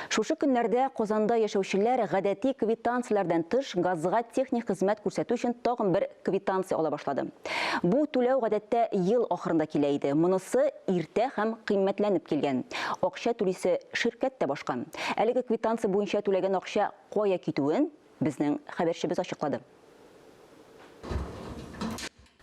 Шушы көннәрдә Казанда яшәүчеләр гадәти квитанцияләрдән тыш газга техник хезмәт күрсәтү өчен тагын бер квитанция ала башлады. Бу түләү гадәттә ел ахырында килә иде, монысы иртә һәм кыйммәтләнеп килгән. Акча түлисе ширкәт тә башка. Әлеге квитанция буенча түләгән акча кая китүен безнең хәбәрчебез ачыклады.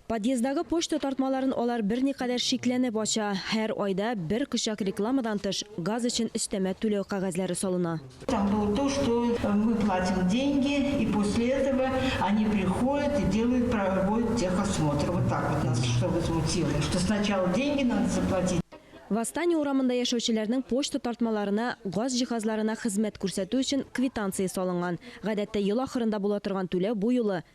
Подъездагы почта тартмаларын алар берникадәр шикләнеп ача. Һәр айда бер кочак рекламадан тыш, газ өчен өстәмә түләү кәгазьләре салына. Там было то, что мы платим деньги, и после этого они приходят и делают, проводят техосмотр. Вот так вот нас что возмутило, что сначала деньги надо заплатить. Восстание урамында яшәүчеләрнең почта тартмаларына газ җиһазларына хезмәт күрсәтү өчен квитанция салынган. Гадәттә ел ахырында була торган түләү бу юлы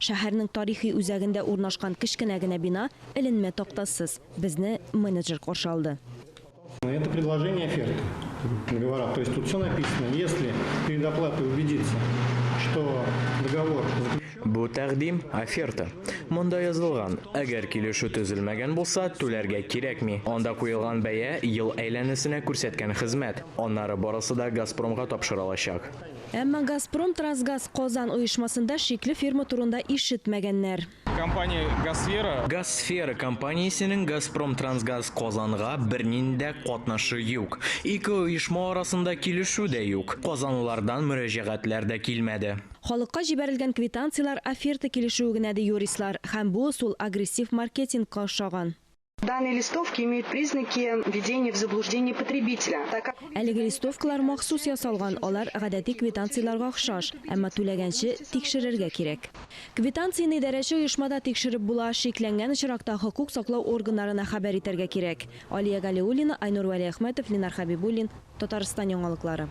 Шәһәрнең тарихи үзәгендә урнашкан кечкенә генә бина, эленмә тактасыз. Безне менеджер каршы алды. Это предложение оферты, договора. То есть тут всё написано. Если перед оплатой убедиться, что договор заключен. Бу тәкъдим, оферта. Монда язылган, әгәр килешү төзелмәгән булса, түләргә кирәкми. Анда куелган бәя, ел әйләнәсенә күрсәткән хезмәт. Аннары барысы да Газпромга тапшырылачак. Әмма Газпром Трансгаз Казан оешмасында шикле фирма турында ишетмәгәннәр. Компания Газсфера. Газсфера компаниясенең Газпром Трансгаз Казанга бернинди дә катнашы юк. Ике оешма арасында килешү дә юк. Казанлылардан мөрәҗәгатьләр дә килмәде. Халыкка җибәрелгән квитанцияләр оферта килешүе генә, ди юристлар. Һәм бу ысул агрессив маркетингка охшаган. Данные листовки имеют признаки введения в заблуждение потребителя, так как... Әлеге листовкалар махсус ясалган, алар гадәти квитанцияләргә охшаш, әмма түләгәнче тикшерергә кирәк. Квитанцияне идарәче оешмада тикшереп була, шикләнгән очракта хокук саклау органнарына хәбәр итәргә кирәк. Алия Галиуллина, Айнур Вәлиәхмәтов, Ленар Хәбибуллин, Татарстан яңалыклары.